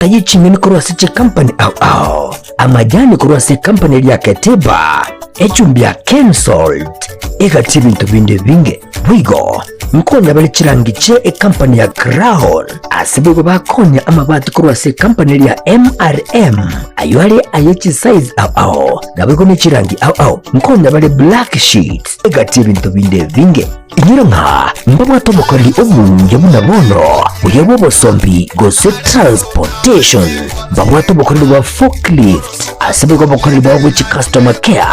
Taye ching'eni korwa ase chikampani ao ao, amajani korwa ase ekampani eria Ketiba, echumbi ya Kensalt egati ebinto binde ebinge. Boigo nkonya bare chirangi chie ekampani ya Crown, ase boigo bakonya amabati korwa ase ekampani eria MRM, ayio are aye chisize ao ao, naboigo ne chirangi ao ao nkonya bare black sheets egati ebinto binde ebinge. Inwe ng'a mbabwate omokoreri omuya buna bono, oyo bw'obosombi gose transportation, mbabwate obokoreri bwa forklift, ase boigo obokoreri bwabo bwe chicustomer care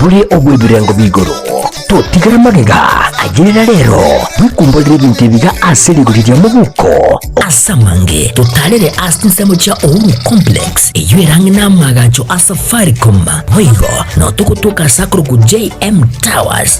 bore obw'ebirengo bi'igoro. Totigere magega ayerera rero, bwekumborere ebinto ebi iga ase rigori ria mobuko. Ase amange totarere ase ensemo chia Uhuru Complex, eyio ere ang'e n'amaagacho a Safaricom, boigo nao togotoka ase akorokwa JM Towers.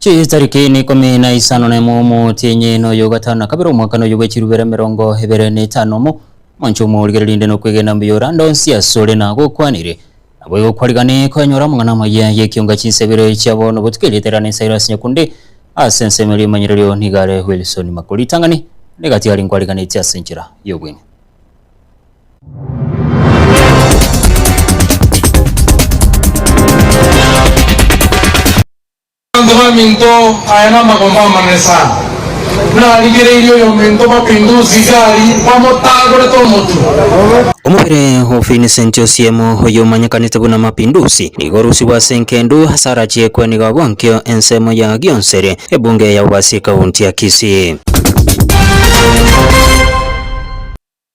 Chitariki na ikomi na isano na emo omotienyi na oyo ogatano na kabere omwaka na oyo bw'echirubera emerongo ebere na etano omo omonche omorigereria inde nokwegena mbuya ore ande onsi asore na agokwanire. Nabo igo kwarigane koenyora amang'ana amaya y'ekionga chinsa ibere chia bono botuko erieta erane Cyrus Nyakundi ase ensemo eria emanyererio nigo are Wilson Makori ritang'ani rigatiga rinkwarigane ase enchera y'obweng'e. Abanto baminto aya namagomba amanene sana. Narigereirie oyominto Mapinduzi Gari bamotagorete omotwe. Omobere o Vincent Osiemo oyo omanyekanete buna Mapinduzi nigo orusigwe ase engendu ase arachie kweniga bonkio ensemo ya Gionsere ebunge ya Bobasi County ya Kisii.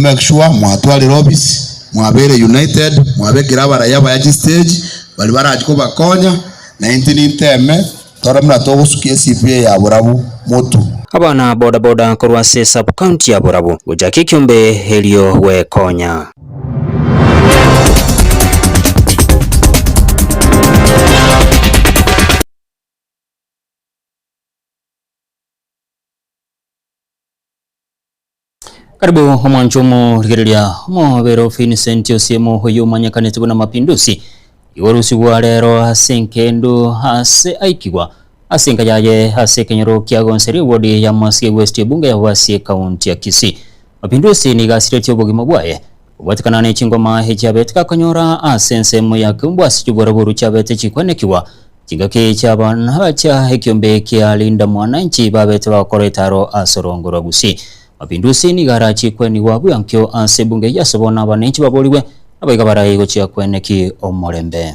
Make sure mwatwarire office, mwabere united, mwabe ekero abaraiyo abaya chistage baria barachi kobakonya, na intwe ninteme tore buna togosukia eCV ya Borabu motu. Abana boda boda korwa ase sub county ya Borabu gocha Kikiombe erio gwekonya. Karibu omwancho omorigereria omobere o Vincent Osiemo oyo omanyekanete buna Mapinduzi igo orosigwa rero ase enkendo ase aikigwa ase enka yaye ase ekenyoro kia Gonseri ewodi ya Masie West ebunge ya Gwasie ekaunti ya Kisii. Mapinduzi nigo asiretie obogima bwaye Gobatikana ne chingoma echiabete gakonyora ase ensemo ya keumbu ase chiboraboru chiabete chikwanekigwa, chingaki chi'abana chia ekiombe kia Linda Mwananchi babete bagokora etaro ase orongo rwa Gusii. Mapinduzi nigo arachie kwenigwa bw'enkio ase ebunge eye ase bono abananchi baborigwe nabaiga baraii gochia kweneki omorembe.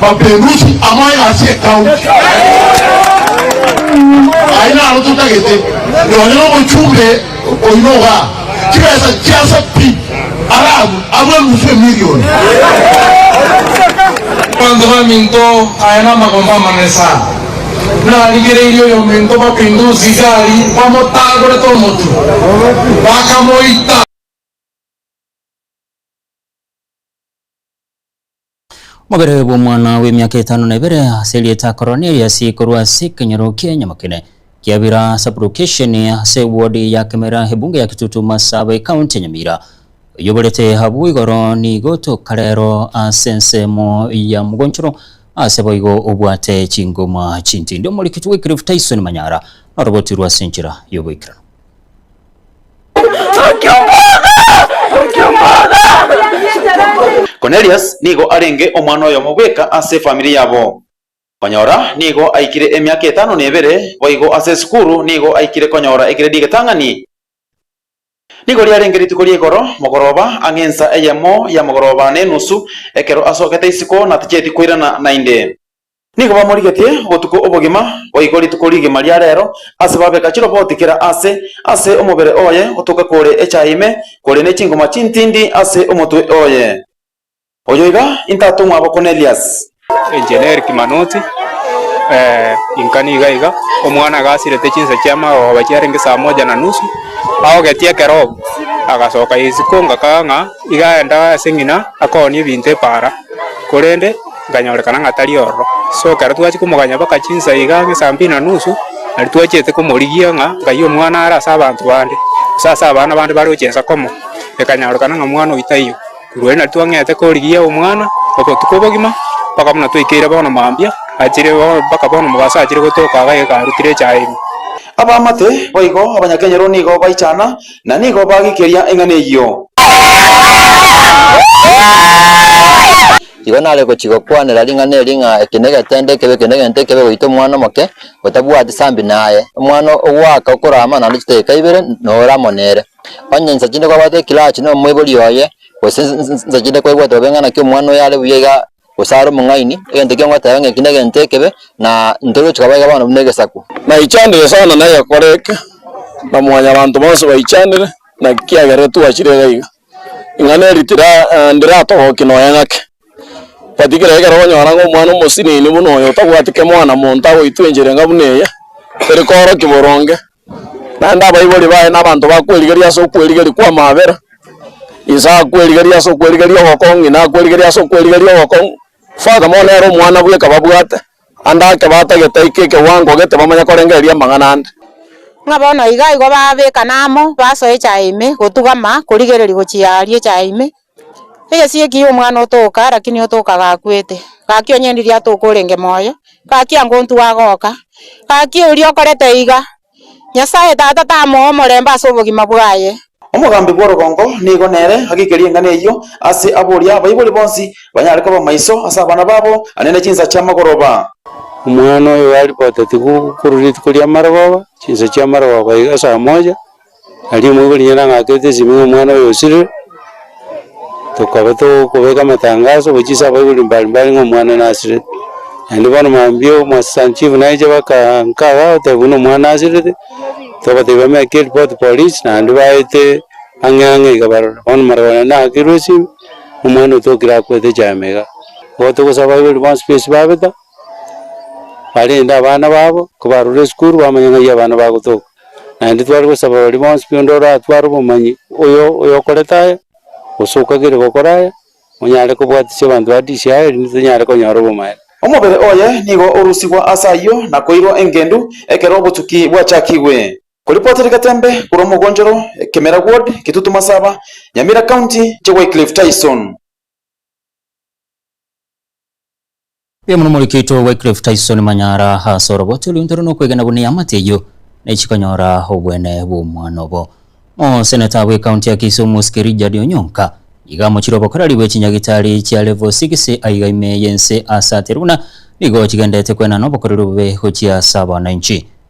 Mapinduzi amoyo ase ekaunti aye naro totagete nonye nomochumbe oino oga chibesa chiase pi arabu abwe enusu emirioni. Abanto baminto aya namagomba amanene sana. Narigereirie oyominto Mapinduzi gari bamotagorete omotu bakamoita. Omobere bw'omwana bw'emiaka etano na ebere ase erieta Cornelius korwa ase ekenyoro kia Nyamokine Kiabira Sublokesheni ase ewodi ya Kemera Ebunge ya Kitutu Marsabei County ya Nyamira oyio oborete abwo igoro nigo toka rero ase ensemo ya mogonchoro ase boigo obwate chingoma chintindi Omorikiti we Cliff Tyson Manyara noroboti rwase enchera yoboikeranu. Cornelius nigo arenge omwana oyomo bweka ase efamiri yabo. Konyora nigo aikire emiaka etano na ebere, boigo ase esukuru nigo aikire konyora egredi egetang'ani. Nigo riarenge rituko ri'igoro mogoroba ang'e ensa eyemo ya mogoroba na enusu, ekero asogete isiko natacheti koirana naende. Nigo bamorigetie obotuko obogima, boigo rituko rigima ria reero, ase babeka chiroboti kera aase ase omobere oye gotoka kore echaye ime, kore ne chingoma chintindi ase omotwe oye. Oyo iga intatong'wa abo Kornelius. Engineer Kimanoti, Eeh, inka niga iga, omwana agasirete chinsa chia magogoba chiarenge saa moja na nusu, aogetie ekero obo, agasoka isiko ngakaka ng'a iga aende ase ng'ina akoonie ebinto epaara, korende, Nkanyorekana ng'a tari ororo. So ekero twachia komoganya baka chinsa iga ang'e saa mbili na nusu, nario twachete komorigia ng'a nkaiyie omwana are ase abanto bande, gose ase abana bande bare gochia inse komo. Ekanyorekana ng'a omwana oyio taiyo. Korwa erio nario twang'ete korigia omwana obotuko obogima baka buna twekeire bono mambia, achire bono baka bono mobaso achire gotoka iga iga arutire echae ime. Abaamate boigo abanyakenyero nigo baichana, na nigo baagikeria eng'ana eyio. Igo nare gochia gokwanera ring'ana eri ng'a eke negete nde ekebe, eke negete ekebe goita omwana omoke otabwati sambi naye. Omwana ogoaka okora amanano chidakika ibere nore amo nere. Onye insa chinde kwabwate ekilachi na omoibori oye, gose insa chinde kwaigwete bobe ng'a naki omwana oyo are buya iga gose are omong'aini, egento ekio ngoteba ng'a eki negete ekebe, na ntoruche kobaeka bono buna egesaku. Naichanire sana negekora eke, na mwanyabanto bonsi baichanire, naki kiagera etwachire iga iga. Ing'ana eri tira, ndiratogokie nonya ng'ake. But kera ekero okonyora ng'a omwana omosinini buna oyo otabwati kemo buna monto agoitwenchire ng'a buna eye, eri koorokia boronge, naende abaibori baye na abanto bakwerigeria ase okwerigeria kw'amabera, inse akwerigeria ase okwerigeria ogokong'u, ng'ina akwerigeria ase okwerigeria ogokong'u, further more nere omwana bweka babwate. Ande ake batagete aike ekewango gete bamanye korengereria amang'ana ande. Ng'a bono iga igo babekana amo, basoa echaye ime, gotugama, korigereria gochia aria echaye ime. Egesio ekio omwana otoka, lakini otoka gakwete. Gaki onye ndiri atoka orenge moyo, gaki ango ntwe agoka. Gaki oria okorete iga. Nyasae Tata tamoe omorembe ase obogima bwaye. Omogambi bw'orogongo nigo nere ageikerie eng'ana eyio ase aboria abaibori bonsi banyare koba maiso ase abana babo ane ne chinsa chi'amagoroba. Omwana oyo garipotetigwe korwa rituko ri'amarogoba, chinsa chi'amarogoba iga saa moja. Aria omoibori onye nang'akerete esimi ng'a omwana oyo osirire, tokaba togokobeka amatangaso gochia ase abaibori mbari mbari ng'a omwana nasirete. Naende bono mambia omwasisani chief naeche baka nkaga goteba buna omwana asirete, tobatebia bameke eripoti polis, naende baete ang'e ang'e iga barore. Bono marwao naende nang'akerwe esimi, omwana oyo tokire akwete chiama iga. Igo togosaba abaibori bonsi ba esiko babeta, barende abana babo, kobarure esukuru bamanye ng'ai abana bagotoka. Naende tware gosaba baria bonsi pi onde oratware obomanyi oyo oyokorete aya, gose okagire gokora aya, onyare kobwatisia abanto ba DC aya erinde tonyare konyora obomanyereria. Omobere oye nigo orusigwa ase ayio na koirwa engendu ekero obotuki bwachakigwe. Koripotiri Gatembe korwa Mogonjoro, Kemera Ward, Kitutu Masaba, Nyamira County, Che Wycliffe Tyson. Mbuya mono omoriki oito Wycliffe Tyson Manyara ase oroboti orwo ntore nokwegena buna eamate eyio nechi konyora obwene bw'omwana obo. Moseneta bwe county ya Kisumu Sky Rijjard Onyonka nigo amochire obokoreri bwe chinyagitari chia level six aiga ime yense ase ate runa nigo chigendete kwenana obokoreri obobe gochia ase abanainchi.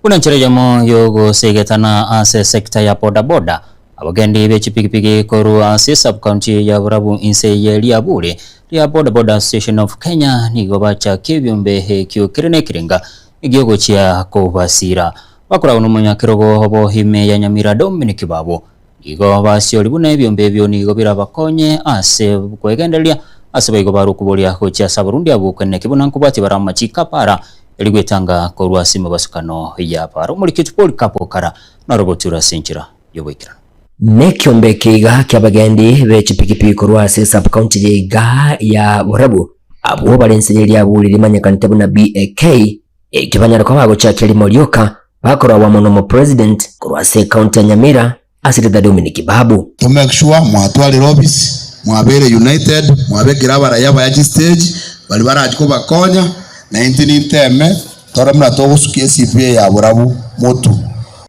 Buna enchera eyemo y'ogoseegetana ase esecta ya boda boda, abagendi be chipigipigi korwa ase esub-county ya Borabu inse eye riabure ria Boda Boda Association of Kenya nigo bachaka ebiombe ekio kere nekerenga egiogochia kobasiira. Bakoragwa nomonyakerogo obo ime ya Nyamira Dominic Babu. Igo basiori buna ebiombe ebio nigo birabakonye ase kwegendereria, ase baigo barokwe boria gochia ase abarundi abwo okwena ekibe, na nkobwati bare amachiko apara, erio gwetanga korwa ase emebasukano y'apara. Omorikiti Polikapo okara naro boture ase enchera y'oboikeranu. Nekiombe keiga kiabagendi be chipikipiki korwa ase sub-county ye iga ya Borabu, abwo bare ense ye Liabu riria rimanyekanete buna BAK, Ekio banyare koba bagochakia rimo rioka bakorwagwa mono omo president korwa ase ecounty ya Nyamira ase rita Dominic Babu. To make sure mwatwarire ofisi, mwabeire united, mwabekire abaraiyo abaya chistage baria barachi kobakonya, naintwe ninteme tore buna togosukia ecp eye ya borabu motu.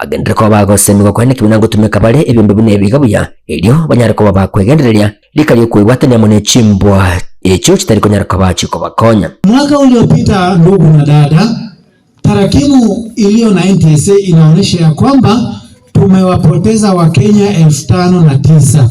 Bagenderere koba bagosemigwa kwane nekibe na gotumeka bare ebiombe buna ebi iga buya, erio banyare koba ba kwegendereria rika ri'okwebwatania amo ne chimbwa echio chitari konyara koba chikobakonya. Mwaka oria opita ndugu na dada, tarakimu ilio na NTSA inaonesha ya kwamba tumewapoteza wakenya elfu tano na tisa.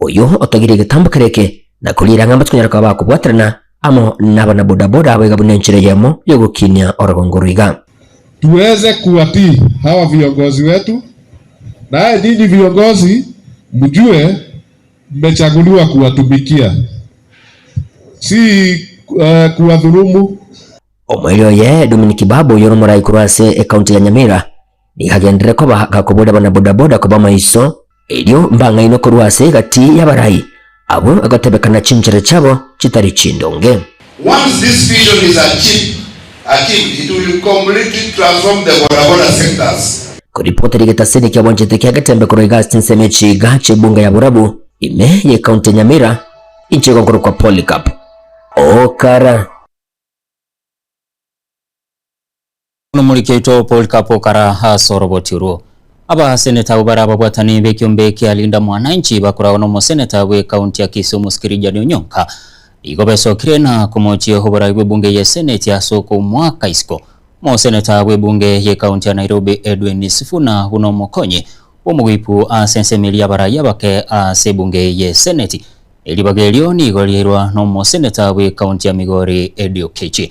Oyio otogirie egetambo kere eke na koriira ng'a mbatikonyara koba bakobwaterana amo nabana boda boda abo iga buna enchera eyemo yogokinia orogongo roiga. Tuweze kuwatii hawa viongozi wetu naye nyinyi viongozi mjue mmechaguliwa kuwatumikia si kuwadhulumu. Omoerio oye Dominic Babu oyore omorai korwa ase ecounty ya Nyamira. nigagenderere koba gakobora abana-bodaboda koba amaiso, erio mbang'ainwe korwa ase egati y'abarai abwo egotebekana chinchera chiabo chitari chindonge. Once this vision is achieved, achieved, it will completely transform the bodaboda sectors. Koripota rigete ase ere kiabwanchete kia getembe korwa iga ase chinsemo echi iga chi'ebunga ya borabu ime ya ecounty ya Nyamira inche igo nkorokwa Polycarp Okara. Nomoriki oito Polycarp okara ase oroboti orwo. Abaseneta abwo bare ababwatani b'ekiombe kia Linda Mwananchi bakoragwa nomoseneta bwe county ya Kisumu Skirigian Onyonka nigo besokire na komochia oborai bw'ebunge ye seneti ase okomoaka isiko. Omoseneta bw'ebunge ye county ya Nairobi Edwin Sifuna buna omokonyi bw'omoguipu ase ensemo eria y'abarai abake ase ebunge ye seneti. Eribaga erio nigo riairwa nomoseneta bwe county ya Migori Eddie Okeche.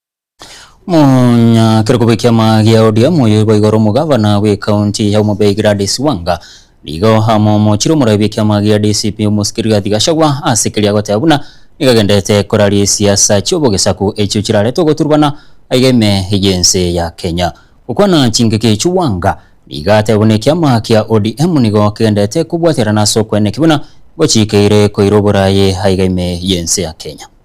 Monyakire koba ekiama gia ODM oyo boigo ore omogavana bw'ekaunti ya Homa Bay Gladys Wanga nigo amomochire omoraia bw'ekiama gia DCP omosike Rigathi Gachagua ase keria agoteba buna nigo agenderete koraria esiasa chi'obogesaku echio chirarete ogoturbana aiga ime y'ense ya Kenya. Gokwana chingaki echio Wanga nigo atebe buna ekiama kia ODM nigo kegenderete kobwaterana ase okwenena ekio buna gochikeire koira oboraye aiga ime y'ense ya Kenya.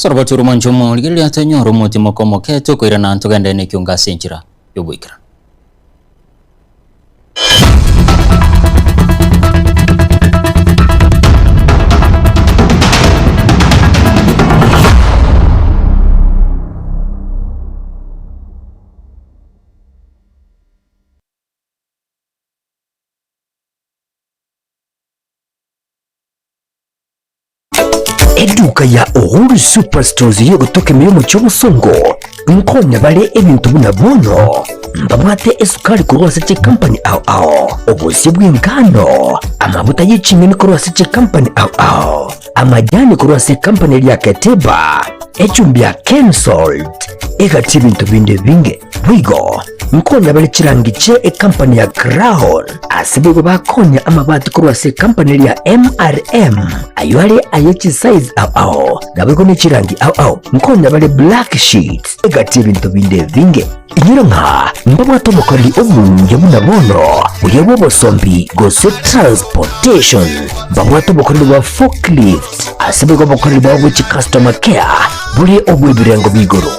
Sarabati ore omwancha omo, rigereria tonyore omotima okomoke, tokoirana, ntogende nekiunga ase enchera y'ogoikerana. Eduka ya Uhuru Superstores iri ogotoka emeyo omochie obosongo nkonya bare ebinto buna bono mbabwate esukari korwa ase chikampani ao ao, obosie bw'engano, amabuta y'eching'eni korwa ase chikampani ao ao, amajani korwa ase ekampani eria Keteba, echumbi ya Kensalt, egati ebinto binde binge. Boigo nkonya bare chirangi chie ekampani ya Crown. Ase boigo bakonya amabati korwa ase ekampani eria MRM, ayio are aye chisize ao ao, naboigo ne chirangi ao ao. Nkonya bare black sheets egati y'ebinto binde ebinge. Inyora ng'a mbabwate obokoreri obonge buna bono, buya bw'obosombi gose transportation. Mbabwate obokoreri bwa forklift, ase boigo obokoreri bwabo bwe chicustoma care bore obw'ebirengo bia igoro.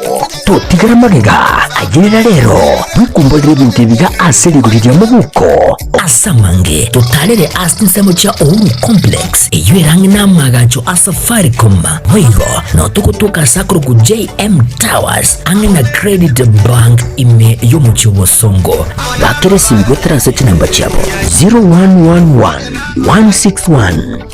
Totigara magega ayerera rero, twekumborere ebinto ebiga ase rigori ria mobuko. As'amange totarere ase ensemo chia Uhuru Complex eyio erang'e namagacho a Safaricom, boigo notogotoka ase akorokwo JM Towers ang'e na Credit Bank ime y'omochie obosongo. Bakera esimi goetera ase chinamba chiabo 0111 161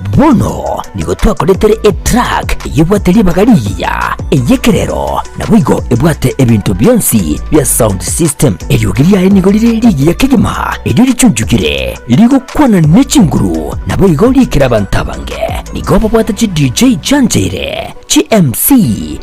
Bono nigo twakoretire etruck eyebwate ribaga rigiya, ey'ekerero, naboigo ebwate ebinto bionsi bia sound system. Eriogi riaye nigo rire rigiya kegima, erio richunchugire, rigokwana ne chinguru, naboigo riikire abanto abange. Nigo babwate chi DJ chianchaire, chi MC,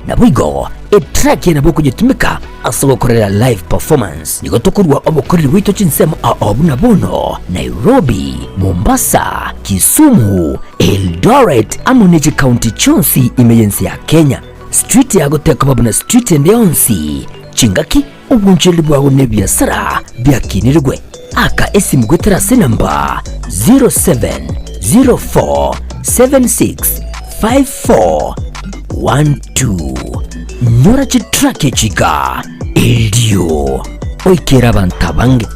naboigo etruck ye nabo okonyetumeka. Ase gokorera live performance nigo tokorua obokoreri bwaito chinsemo ao buna bono, Nairobi, Mombasa, Kisumu, Eldoret amo ne chikaunti chionsi ime y'ense ya Kenya. Street yago tekoba buna street ende yonsi. Chingaki, obwanchereri bwago na ebiasara biakinirigwe. Aka esimu goetera ase enamba 0704765412. Nyora chitrack echi iga, erio oikere abanto abange.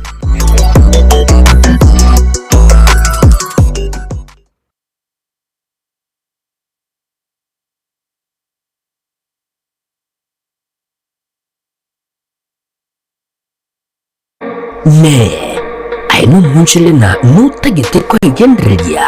Inee! Aye nomoonchorere na notagete kwegendereria,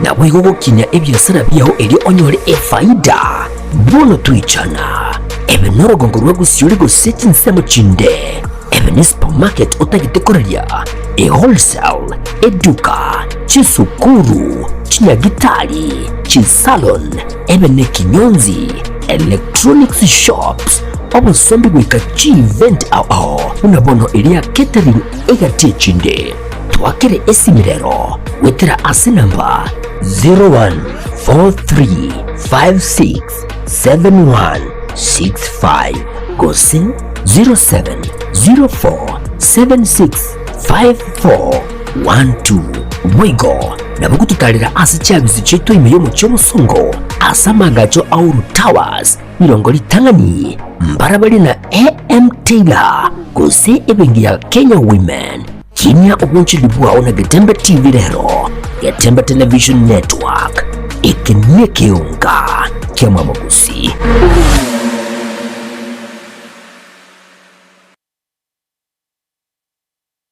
naboigo gokinia ebiasara biao erio onyore efaida? Bono toichana. Ebe norugongo rwa gosiori gose chinsemo chinde, ebe ne supermarket otagete koraria, ewholesale, eduka, chinsukuru, chinyagitari, chisalon, Ebe ne Kinyonzi Electronics Shops, obosombi goika chievent ao ao buna bono eria catering egati echinde. Twakere esimi rero goetera ase namba 0143567165 gose 07047654. One two Boigo nabo gototarera ase chiabisu chiaito ime y'omochie omosongo ase amaagacho a Uhuru Towers, rirongo ritang'ani mbara baria na AM Taylor gose ebenki ya Kenya Women. Kinia obwanchoreri bwao na Getembe TV rero. Getembe Television Network, eke nekeonga kiamamogosi.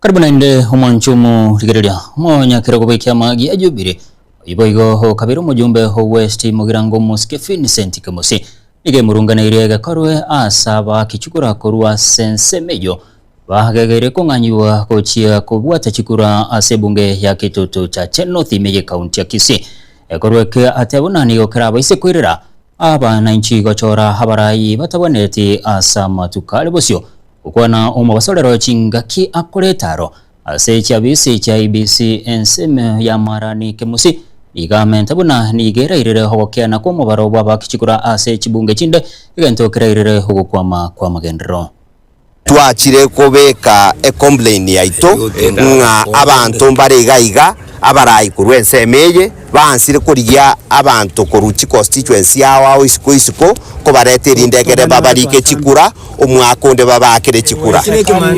Karibu naende omwancho omorigereria, omonyakera okobekia amagi a Jubili, oyio boigo okabeire omojumbe o West Mugirango Mosike Vincent Kemosi, nigo emorunganeirie egekorwe ase abaaki chikura korwa ase ensemo eyio, bagegeire kong'anyigwa gochia kobwata chikura ase ebunge ya Kitutu Chache North ime y'Ekaunti ya Kisii. Egekorwe eke ateba buna nigo kerabaise koirera. Aba nainchi gochora abarai batabwenereti as'amatuko are bosio, gokwana omobasorero chingaki akore etaro ase chiabisi chia ABC ensemo ya Marani Kemusi nigo amente buna nigo erairire ogokiana kw'omobaro bw'abakichikura ase chibunge chinde egento kerairire ogokwama kw'amagenderero. Twachire kobeka ecomplain yaito ng'a abanto mbare iga iga abarai korwa ensemo eye baansire korigia abanto korwa chiconstituency yao ao isiko isiko kobareta erinde ekere babarike chikura omwaka onde babaakere chikura.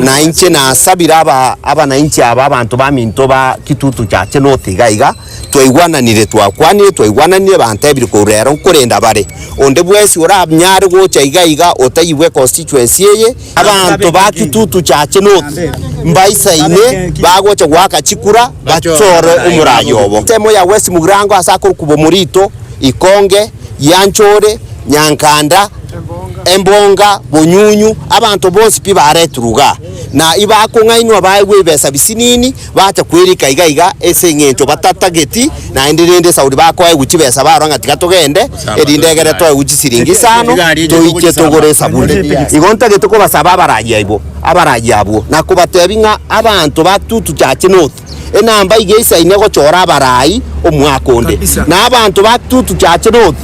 Na inche nasabire abanainchi aba abanto baminto ba Kitutu Chache North iga iga Twaigwananire, twakwanire, twaigwananire, bantebire korwa rero nkorenda bare. Onde bwesi oranyare gocha iga iga otayigwe econstituency eye, abanto ba Kitutu Church North mbaisaine bagocha goaka chikura bachore omoraia obo. Ensemo ya West Mugirango ase akorukuba Omorito, Ikonge, Gianchore, Nyankanda, Embonga, Bonyunyu, abanto bonsi pi baretirwe igaa na ibakong'ainwa baegwe ebesa bisinini, Bacha kwerika iga iga ase engencho batatageti naende, rende Sauli bakoegwa chibesa barora ng'a tiga togende, erinde egere toegwe chisiringi isano toiche togore esaburi. Igo ntagete kobasaba abaragia aibwo abaragia abwo, na kobatebia ng'a abanto batutuchache nothu enamba iga isaine gochora abarai omwaka onde, na abanto batutuchache nothu.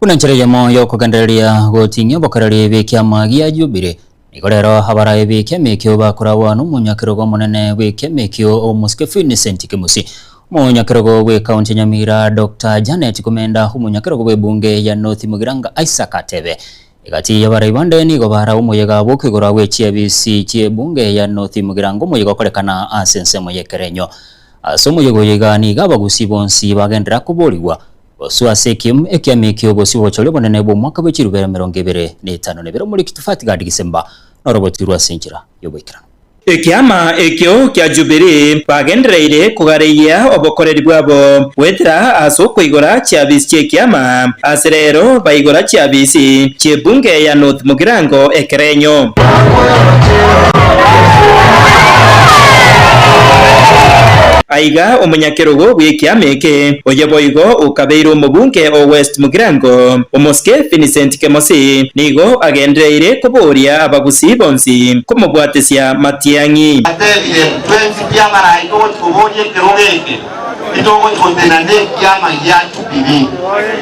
Buna nchera eyemo y'okogendereria gotinyia obokereri bw'ekiama gia Jubili, nigo rero abaraai b'ekiama ekio bakoragwa n'omonyakerogo omonene bw'ekiama ekio, Omosike Vincent Kimusi, omonyakerogo bwe County ya Nyamira Doctor Janet Kumenda, omonyakerogo bw'ebunge ya North Mugiranga Isaac Atebe. Egati y'abaraai bande nigo bara omoyega bw'okoigorwa gwe chiafisi chi'ebunge ya North Mugiranga omoyega okorekana ase ensemo y'ekerenyo. Ase omoyega oyo iga nigo abagusi bonsi bagenderera koborigwa. Bosio ase ekiemu ekiaame eki'obosio bw'obochori obonene bw'omwaka bwe chirube emerongo ebere na etano nebere omuri Kitufati Gadi Gisemba, noroboti rwa ase enchera y'oboikeranu. Ekiama ekio kia Jubilee bagendereire kogareyia obokoreri bwabo goetera ase okoigora chiafisi chi'ekiama ase reero baigora chiafisi chi'ebunge ya North Mugirango Ekerenyo. Aiga omonyaminto. ekerogo bw'ekiama eke, oye boigo okabeire omobunge o West Mugirango, omosike Vincent Kemosi nigo agendereire kobooria abagusii bonsi komobwatesia matiang'i. Atebire, Twensi pi abaraika ogochi koboria ekerogo eke, titogochi gotenena nekiama giacho. Jubilii.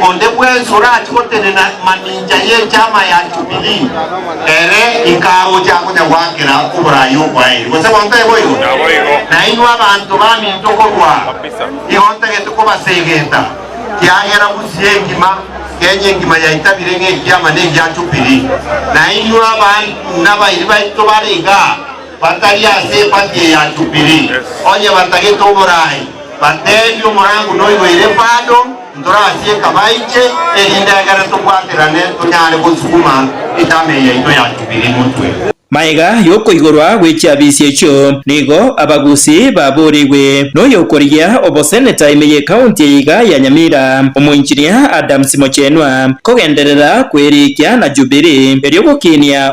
Onde bwensi orache gotenena mamincha y'Echama ya Jubilii, ere ikagocha gocha goakera oboraai obwaye. Gose gwanto aye boigo? Na inwe abanto baminto korwa aa, igo ntagete kobasegeta, kiagera bosio engima Kenya engima yaitabire ng'a Ekiama negia Jubilii. Na inwe abanto nabairi baito bare igaa, batari ase epati eya Jubilii, onye batagete oboraai, bateebie omorango noyo ere bado, ntorasieka baiche, erinde egere tobwaterane tonyare gosukuma etamei yaito ya Jubilii motwe. Magega y'okoigorwa gwe chiabisi echio nigo abagusi baboorigwe noyokorigia oboseneta ime y'ekaunti eye iga ya Nyamira, omoinchinia Adams Mochenwa, kogenderera kwerikia na Jubilii erio gokiinia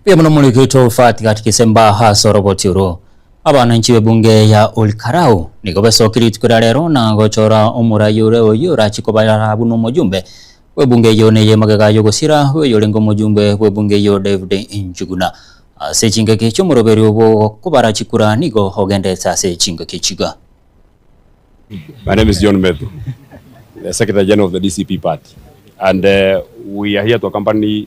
Mbuya mono omoriki Toofat gati Kisemba ase oroboti oro. Abananchi b'ebunge ya Olkarou nigo besoki rituko ria rero na gochora omorai ore oyio orachi kobara buna omoyumbe bw'ebunge eyio na ey'emagega y'ogosira bw'oyorenge omoyumbe bw'ebunge eyio David Njuguna. Ase chingaki chi'omoroberio bw'ogokobara chikura nigo ogendete ase chingaki chiga. My name is John Methu, the Secretary General of the DCP Party and we are here to accompany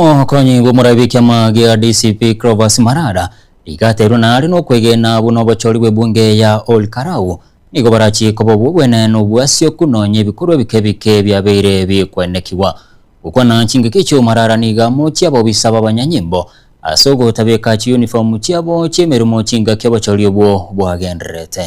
Omokonyi bw'omorabi kiamage ya DCP Clovis Marara rigaterwe naare nokwegena buna obochori bw'ebunge ya Ol Karau nigo barachie koba obwo obwene nobwasioku nonya ebikorwa ebike bike biabeire bikwenekigwa. Gokwana chingaki echio Marara nigo amochia abobisa babanyanyimbo ase ogotabeka chiuniform chiabo chiemeremo chingaki obochori obwo bwagendererete.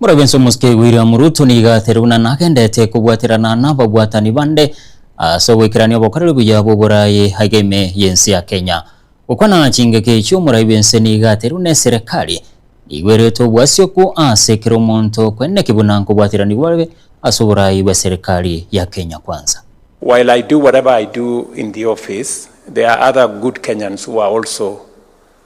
Mora bwensi omosike William Ruto nigo ateriguna na agenderete kobwaterana nababwatani bande ase ogoikerania obokoreri buya bw'oboraai ageme y'ense ya Kenya. Gokwana chingaki chi'omorai bwense nigo aterigune serekari nigo erete obwasioku ase kera omonto kweneki buna nkobwateranigwa bobe ase oboraai bwe serekari ya Kenya Kwanza. While I do whatever I do in the office, there are other good Kenyans who are also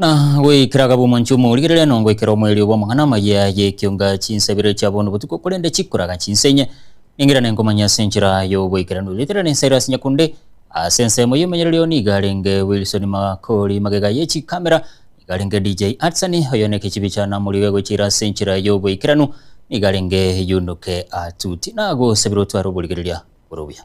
Na goikera agabwomoncho omorigerere nongoikera omoerio obo amang'ana amaya y'ekiunga chinsabire chia bono botuko korende chikoraga chinsa enye, ningira nenkomanya ase enchera y'ogoikeranu. Rigeterere ninsaire ase nyakunde, ase ensemo y'omenyereri oo nigo arenge Wilson Makori magega ye chikamera, nigo arenge DJ Atsani oyo ne ekechibi cha Namori iga egocha ira ase enchera y'ogoikeranu, nigo arenge Yunuke Atuti. Nagosabire otware oborigereria bore obuya.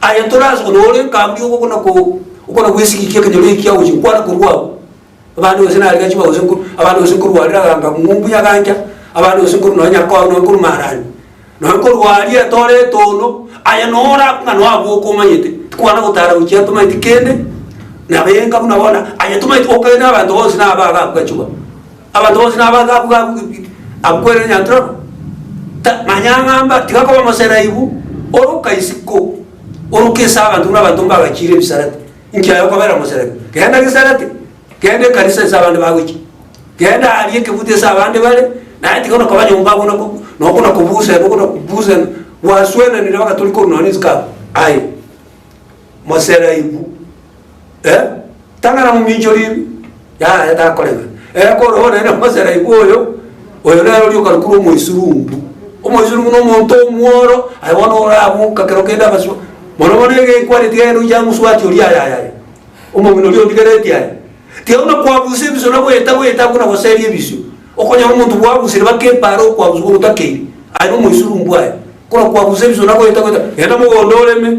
Aye toraanse konya ore ekambi ogokuna ko okona gw'esigiki ekenyoro eki agochia gokwana korwa agwo. Abande gose nari gachiba gose nko abande gose nkorwarera ganga ng'umbu nyagancha abande gose nkorwa nonya nyakoa nonya nkorwa maarani nonya nkorwaria etore etono aye nora ng'a noa abwo okomanyete tikwana gotara gochia tomanyeti kende nabe enka buna bono aye tomanyeti okonyene abanto bonsi naba abakwa chiba. Abanto bonsi nabaake abwo gabugi-bugi, abukwere enyanchoro, manyang'amba, tigakoba omoseraibu oroka isiko, oroka ase abanto buna abanto mbagachiire ebisarate, inki aye okobera omoseraibu? Genda gesarate, genda ekanisa ase abande bagoichia, genda aria ekebuto ase abande bare, naye tiga onakoba nyomba abwo na noko na kobusana noko na kobusana, gwaswenanire bagatori korwa nonya ne ensiko abwo, aye moseraibu. Eh, tang'ana mominchorie yaraye takorega. Eh, kore bono naende Mosera igwe oyo, oyo nere oria okarukurwa omoisurungu. Omoisurungu na omonto omworo, aye bono oramoka kero kende agaswa. Mono mono egekwareti gaiga nochi amoswati oria aye aye aye. Omong'ina oria ondigereti aye. Tiga buna kwabusa ebiso na goeta goeta buna goseria ebisio. Okonyora omonto bwabusire baka epaara okwabuswa ogotakeiri. Aye nomoisurungu aye. Buna kwabusa ebiso na goeta goeta, genda mogondo oreme.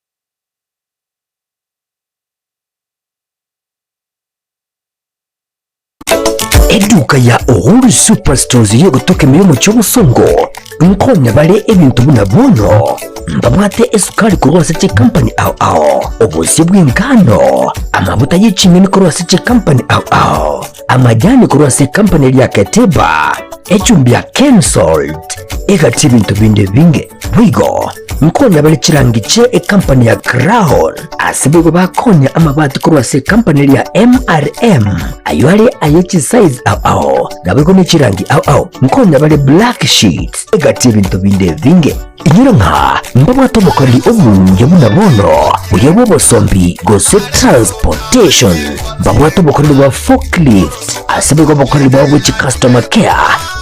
Eduka ya Uhuru Superstores yegotoka emeyo omochie obosongo nkonya bare ebinto buna bono mbabwate esukari korwa ase chikampani ao ao, obosie bw'engano, amabuta ye ching'eni korwa ase chikampani ao ao, amajani korwa ase ekampani eria Ketiba, echumbi ya Kensalt egati ebinto binde binge. Boigo nkonya bare chirangi chie ekampani ya Crown ase boigo bakonya amabati korwa ase ekampani eria MRM ayio are aye chisize ao ao naboigo ne chirangi ao ao nkonya bare black sheets egati ebinto binde binge. Inyora ng'a mbabwate omokoreri omuya buna bono, oyo bw'obosombi gose transportation, mbabwate obokoreri bwa forklift, ase boigo obokoreri bwabo bwe chicustomer care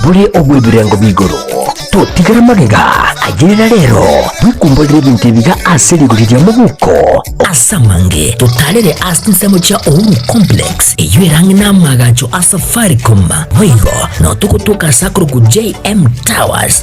bore obw'ebirengo bi'igoro. Totigara magega ayerera rero, bwekumborere ebinto ebiga ase rigori ria mobuko. Ase amange totarere ase ensemo chia Uhuru Complex, eyio ere ang'e n'amaagacho a Safaricom, boigo nao togotuoka ase akorokwa JM Towers,